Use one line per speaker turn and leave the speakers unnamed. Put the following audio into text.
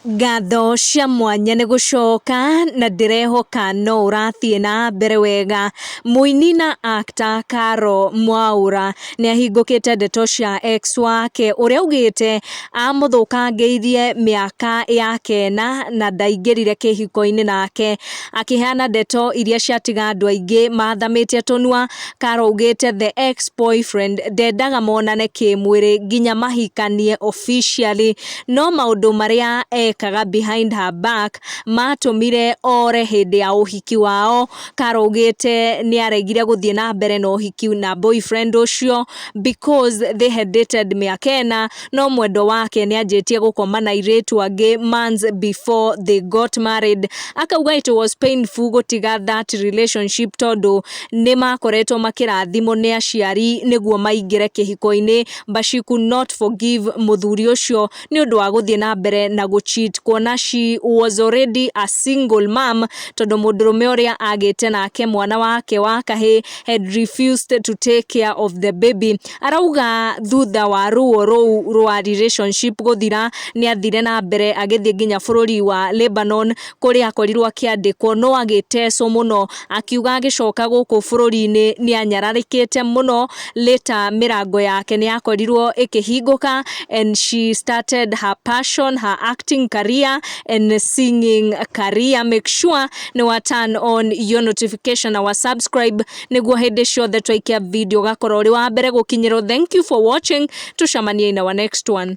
Ngatho cia mwanya nĩ gũcoka na ndĩrehoka no ũrathiĩ na mbere wega. Mũini na actor Caro Mwaũra nĩ ahingũkĩte ndeto cia ex wake ũrĩa augĩte amũthũkangĩirie mĩaka ya kena na ndaingĩrire kĩhiko-inĩ nake. Akĩheana ndeto iria ciatiga andũ aingĩ mathamĩtie tũnua, Caro augĩte the ex boyfriend ndendaga monane kĩmwĩrĩ nginya mahikanie officially. no maũndũ marĩa ekaga behind her back matũmire ore hĩndĩ ya ũhiki wao. Carol augĩte nĩaregire gũthiĩ na mbere na ũhiki na boyfriend ũcio because they had dated mĩaka ĩna no mwendwa wake nĩanjĩtie gũkoma na airĩtu angĩ months before they got married. Akauga it was painful gũtiga that relationship tondũ nĩmakoretwo makĩrathimwo nĩ aciari nĩguo maingĩre kĩhiko-inĩ. but she could not forgive mũthuri ũcio nĩ ũndũ wa gũthiĩ na mbere na gũ cheat kuona she was already a single mom tondũ mũndũrũme ũrĩa agĩte nake mwana wake wa kahĩ had refused to take care of the baby arauga thutha wa ruo rũu rwa relationship gũthira nĩ athire na mbere agĩthiĩ nginya bũrũri wa Lebanon kũrĩa akorirwo akĩandĩkwo no agĩtecwo mũno akiuga agĩcoka gũkũ bũrũri-inĩ nĩ anyararĩkĩte mũno later mĩrango yake nĩ yakorirwo ĩkĩhingũka and she started her passion her acting career and singing career make sure nĩ wa turn on your notification na wa subscribe nĩguo hĩndĩ ciothe twaikia video ũgakorwo ũrĩ wa mbere gũkinyĩrwo thank you for watching tũcamanie in our next one